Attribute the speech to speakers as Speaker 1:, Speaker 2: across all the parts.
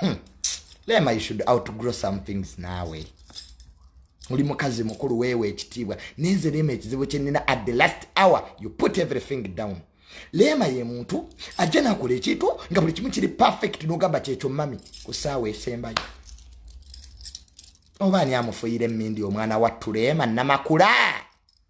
Speaker 1: hmm. lema you should out to grow some things nawe oli mukazi mukulu weewa ekitiibwa nenze lema ekizibu kyenina at the last hour you put everything down leema ye muntu ajja nakola ekintu nga buli kimu kiri perfect nogamba kyekyo mami ku saawa esembayo oba ani amufuyira emindi omwana wattu leema namakula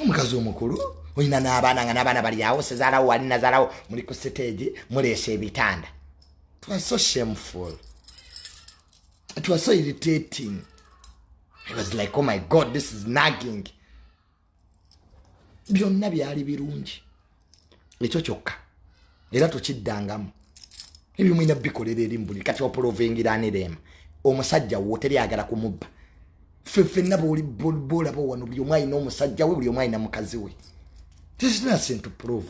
Speaker 1: omukazi omukulu olina n'abaana nga n'abaana bali awo sezaalawo wali nazaalawo muli ku siteegi muleesa ebitanda twa so shameful twa so irritating i was like oh my god this is nagging byonna byali birungi ekyo kyokka era tukiddangamu ebyo mulina bikolera eri mubuli kati opolovengiranirema omusajja wo teri agala kumubba fefenna bolaba wano buli omu alina omusajja we buli omu alina mukazi we tisinasintu prove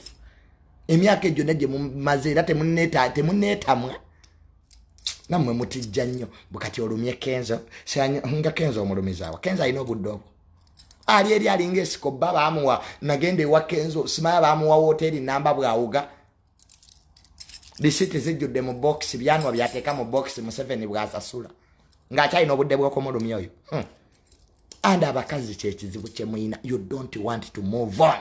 Speaker 1: emyaka egyo nagye mumaze era temuneetamwa namwe mutijja nnyo bukati olumye kenzo nga kenzo omulumizaawa kenzo alina obudde obwo ali eri alinga esiko bba baamuwa nagenda ewa kenzo simaya baamuwa wooteeri namba bwawuga lisiti zijjudde mu bokisi byanwa byateeka mu bokisi museveni bwasasula ng'akyalina obudde bw'okumulumya oyo hmm. and abakazi kyekizibu kyemuyina you don't want to move on